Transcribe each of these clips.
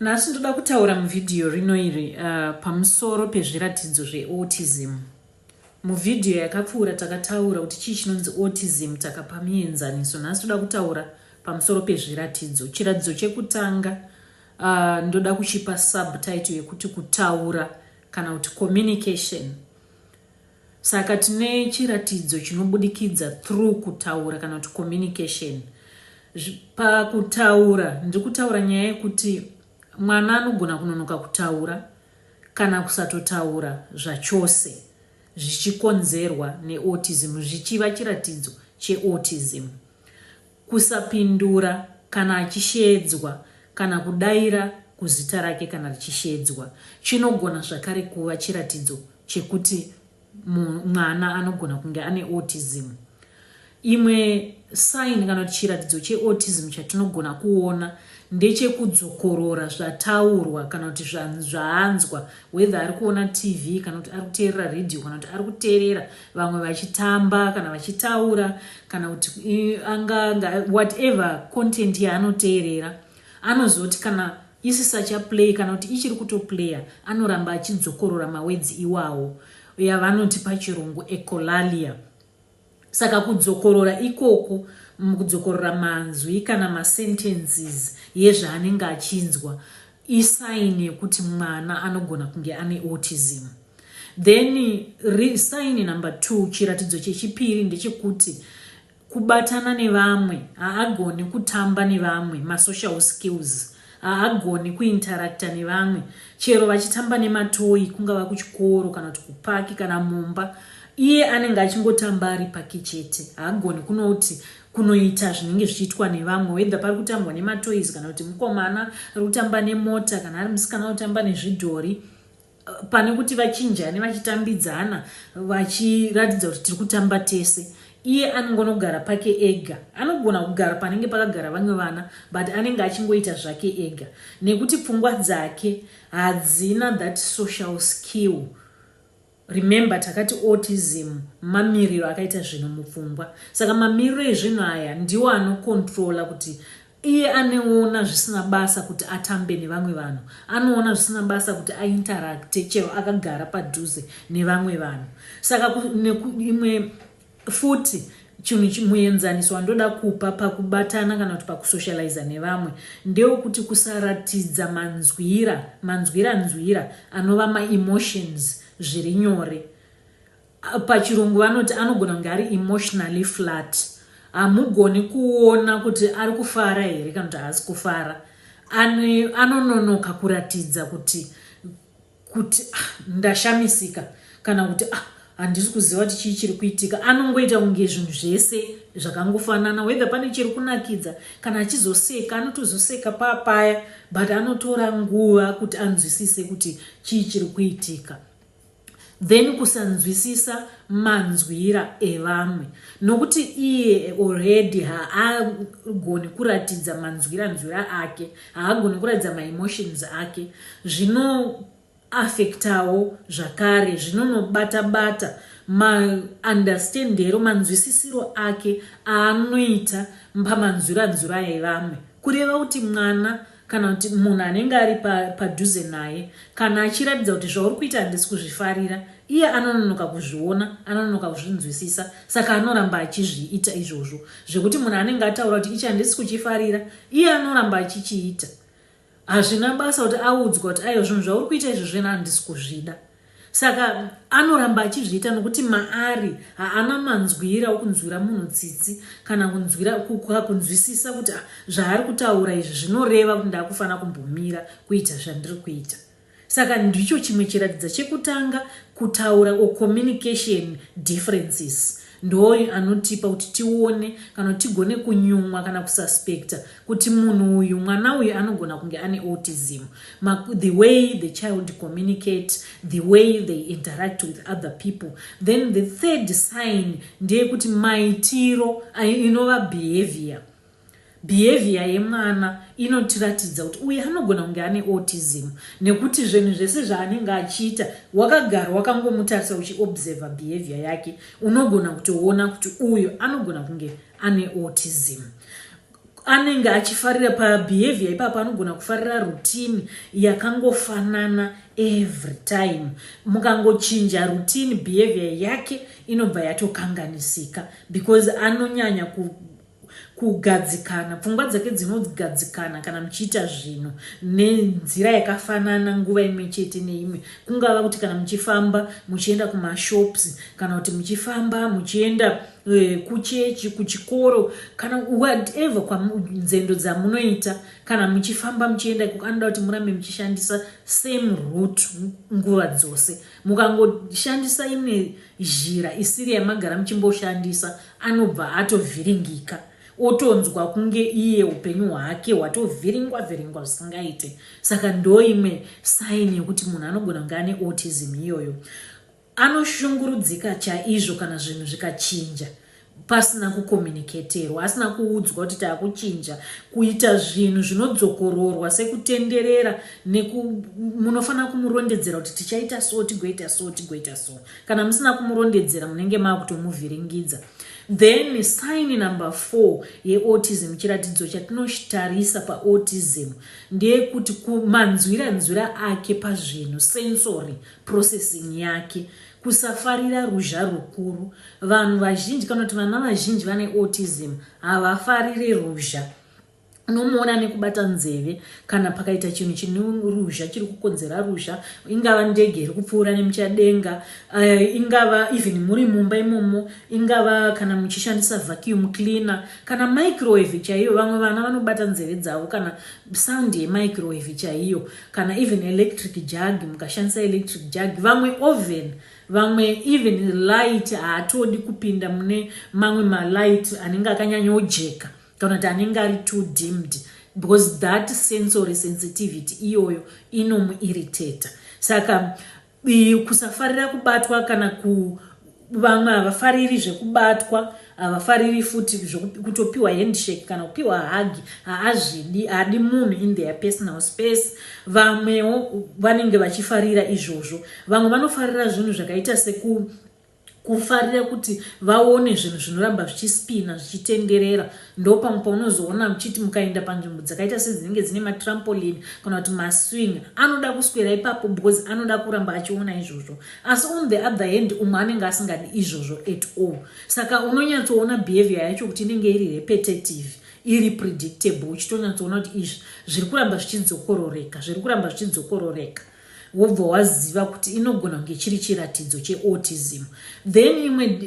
Nhasi ndoda kutaura muvhidhiyo rino iri uh, pamusoro pezviratidzo zveautism. Muvhidhiyo yakapfuura takataura kuti chii chinonzi autism, takapa mienzaniso. Nhasi toda kutaura pamusoro pezviratidzo. Chiratidzo chekutanga uh, ndoda kuchipa subtitle yekuti kutaura kana kuti communication. Saka tine chiratidzo chinobudikidza through kutaura kana kuti communication. Pakutaura ndiri kutaura nyaya yekuti mwana anogona kunonoka kutaura kana kusatotaura zvachose zvichikonzerwa neautism zvichiva chiratidzo cheautism. Kusapindura kana achisheedzwa kana kudaira kuzita rake kana richisheedzwa chinogona zvakare kuva chiratidzo chekuti mwana anogona kunge ane autism. Imwe sign kana kuti chiratidzo cheautism chatinogona kuona ndechekudzokorora zvataurwa kana kuti zvaanzwa whether ari kuona TV kana kuti ari kuteerera radio kana kuti ari kuteerera vamwe vachitamba kana vachitaura kana kuti anga whatever content yaanoteerera anozoti kana isisacha play kana kuti ichiri kutoplaya anoramba achidzokorora mawedzi iwawo yavanoti pachirungu ecolalia saka kudzokorora ikoku kudzokorora manzwi kana masentences yezvaanenge achinzwa isaini yekuti mwana anogona kunge ane autism Then ri, sign number two, chiratidzo chechipiri ndechekuti kubatana nevamwe, haagoni kutamba nevamwe, masocial skills, haagoni kuinteracta nevamwe, chero vachitamba nematoyi kungava kuchikoro kana kuti kupaki kana mumba, iye anenge achingotamba ari pake chete, haagoni kunoti kunoita zvinenge zvichiitwa nevamwe wedha pari kutambwa nematoys kana kuti mukomana ari kutamba nemota kana ari musikana kutamba nezvidhori pane kuti vachinjane vachitambidzana vachiratidza kuti tiri kutamba tese iye anongonogara pake ega anogona kugara panenge pakagara vamwe vana but anenge achingoita zvake ega nekuti pfungwa dzake hadzina that social skill remember takati autism mamiriro akaita zvinhu mupfungwa saka mamiriro ezvinhu aya ndiwo anokontrola kuti Iye aneona zvisina basa kuti atambe nevamwe vanhu, anoona zvisina basa kuti ainteracte chero akagara padhuze nevamwe vanhu. Saka imwe futi chinhu muenzaniso wandoda kupa pakubatana kana kuti pakusocializa nevamwe ndewekuti kusaratidza manzwira manzwira nzwira anova maemotions zviri nyore pachirungu vanoti anogona kunge ari emotionally flat hamugoni kuona kuti ari kufara here kana kuti haasi kufara anononoka kuratidza kuti kuti ah, ndashamisika kana kuti ah, handisi kuziva kuti chii chiri kuitika anongoita kunge zvinhu zvese zvakangofanana wethe pane chiri kunakidza kana achizoseka anotozoseka papaya but anotora nguva kuti anzwisise kuti chii chiri kuitika then kusanzwisisa manzwira evamwe nokuti iye already haagoni kuratidza manzwira nzwira ake haagoni kuratidza maemotions ake zvinoafektawo zvakare zvinonobata bata maunderstandero manzwisisiro ake aanoita pamanzwira nzwira evamwe kureva kuti mwana kana kuti munhu anenge ari padhuze naye kana achiratidza kuti zvauri kuita handisi kuzvifarira iye anononoka kuzviona anononoka kuzvinzwisisa saka anoramba achizviita izvozvo zvekuti munhu anenge ataura kuti ichi handisi kuchifarira iye anoramba achichiita hazvina basa kuti audzwa kuti aiwa zvinhu zvauri kuita izvozvo ena handisi kuzvida saka anoramba achizviita nokuti maari haana manzwira okunzwira munhu tsitsi kana kunzwira kunzwisisa kuti ah, zvaari kutaura izvi zvinoreva kuti ndakufanira kumbomira kuita zvandiri kuita saka ndicho chimwe chiratidza chekutanga kutaura or communication differences Ndooyo anotipa kuti tione kana kuti tigone kunyumwa kana kususpecta kuti munhu uyu, mwana uyu anogona kunge ane autism. Ma, the way the child communicate, the way they interact with other people. Then the third sign ndeyekuti maitiro, inova behavior. Behavior yemwana inotiratidza kuti uyu anogona kunge ane autism nekuti zvinhu zvese zvaanenge achiita wakagara wakangomutarisa uchiobserver behavior yake unogona kutoona kuti uyu anogona kunge ane autism anenge achifarira pabehavior ipapo anogona kufarira rutini yakangofanana every time mukangochinja rutini behavior yake inobva yatokanganisika because anonyanya ku kugadzikana pfungwa dzake dzinogadzikana kana muchiita zvinhu nenzira yakafanana nguva imwe chete neimwe kungava kuti kana muchifamba muchienda kumashops kana kuti muchifamba muchienda eh, kuchechi kuchikoro kana whatever kwanzendo dzamunoita kana muchifamba muchienda ikoko anoda kuti murambe muchishandisa same root nguva dzose mukangoshandisa imwe zhira isiri yamagara muchimboshandisa Anobva atovhiringika otonzwa kunge iye upenyu hwake hwatovhiringwa vhiringwa zvisingaite saka ndoimwe saini yekuti munhu anogona kunge ane autism iyoyo anoshungurudzika chaizvo kana zvinhu zvikachinja pasina kukomuniketerwa asina kuudzwa kuti taakuchinja kuita zvinhu zvinodzokororwa sekutenderera munofanira kumurondedzera kuti tichaita so tigoita so tigoita so kana musina kumurondedzera munenge maakutomuvhiringidza then sign number four yeautism chiratidzo chatinotarisa paautism ndeyekuti manzwira nzwira ake pazvinhu sensory processing yake kusafarira ruzha rukuru vanhu vazhinji kana kuti vana vazhinji vane autism havafarire ruzha unomuona nekubata nzeve kana pakaita chinhu chine ruzha chiri kukonzera ruzha ingava ndege iri kupfuura nemuchadenga uh, ingava even muri mumba imomo ingava kana muchishandisa vacuum cleaner kana microwave chaiyo vamwe vana vanobata nzeve dzavo kana sound yemicrowave chaiyo kana even electric jug mukashandisa electric jug vamwe oven vamwe even light haatodi kupinda mune mamwe malight anenge akanyanyojeka kana kuti anenge ari too dimmed because that sensory sensitivity iyoyo inomuirritata saka kusafarira kubatwa kana ku vamwe havafariri zvekubatwa havafariri futi kutopiwa handshake kana kupiwa hagi haazvidi haadi munhu in their personal space vamwewo vanenge vachifarira izvozvo vamwe vanofarira zvinhu zvakaita seku kufarira kuti vaone zvinhu zvinoramba zvichispina zvichitenderera ndopamwe paunozoona muchiti mukaenda panzvimbo dzakaita sedzinenge dzine matrampoline kana kuti maswing anoda kuswera ipapo because anoda kuramba achiona izvozvo asi on the other hand umwe anenge asingadi izvozvo at all saka unonyatsoona behavior yacho kuti inenge iri repetitive iri predictable uchitonyatsoona kuti izvi zviri kuramba zvichidzokororeka zviri kuramba zvichidzokororeka wobva waziva kuti inogona kunge chiri chiratidzo cheautism then imwe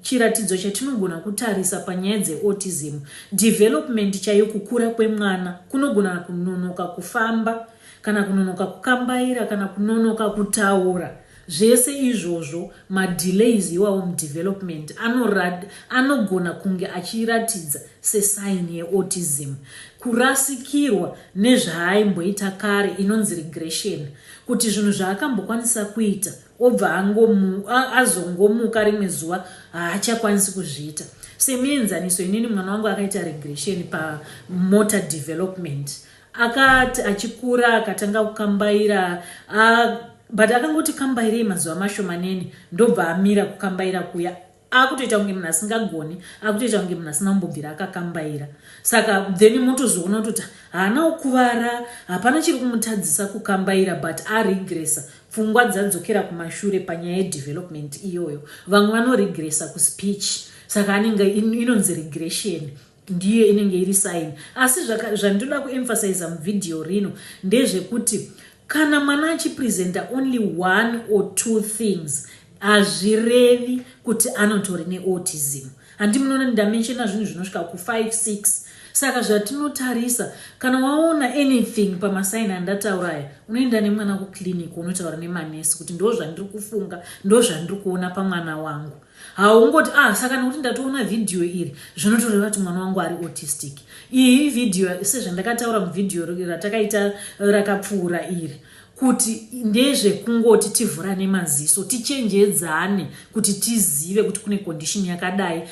chiratidzo chatinogona kutarisa panyaya dzeautism development chaiyo kukura kwemwana kunogona kunonoka kufamba kana kunonoka kukambaira kana kunonoka kutaura Zvese izvozvo ma delays iwawo mudevelopment anorad anogona kunge achiratidza se sign ye autism. Kurasikirwa nezvaaimboita kare inonzi regression kuti zvinhu zvaakambokwanisa kuita obva angomu a azongomuka rimwe zuva haachakwanisi kuzviita. Semuenzaniso inini mwana wangu akaita regression pa motor development Akati achikura akatanga kukambaira a but akangoti kambairei mazuva mashomanene ndobva amira kukambaira kuya akutoita kunge munhu asingagoni akutoita kunge munhu asina kumbobvira akakambaira saka then motozoona kutoti haana kukuvara hapana chiri kumutadzisa kukambaira but aregresa pfungwa dzadzokera kumashure panyaya yedevelopment iyoyo vamwe vanoregresa kuspeech saka anenge inonzi regression Ndiyo inenge iri sign. Asi zvaka, zvandinoda kuemphasizer muvideo rino ndezvekuti kana mwana achipresenta only one or two things hazvirevi kuti anotori neautism handi munoona ndamenshena zvinhu zvinosvika ku5 6 saka zvatinotarisa kana waona anything pamasaini andataura aya unoenda nemwana kuclinic unotaura nemanesi kuti ndo zvandiri kufunga ndo zvandiri kuona pamwana wangu haungoti ah saka nekuti ndatoona vhidhiyo iri zvinotoreva kuti mwana wangu ari autistic iyi vhidhiyo sezvandakataura muvhidhiyo ratakaita rakapfuura iri kuti ndezvekungoti tivhurane maziso tichenjedzane kuti tizive kuti kune condition yakadai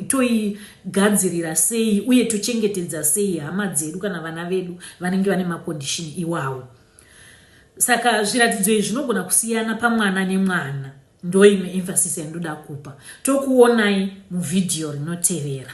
toigadzirira sei uye tochengetedza sei hama dzedu kana vana vedu vanenge vane macondishini iwawo saka zviratidzo izvi zvinogona kusiyana pamwana nemwana Ndoimwe emphasis yandinoda kupa. Tokuonai muvideo rinotevera.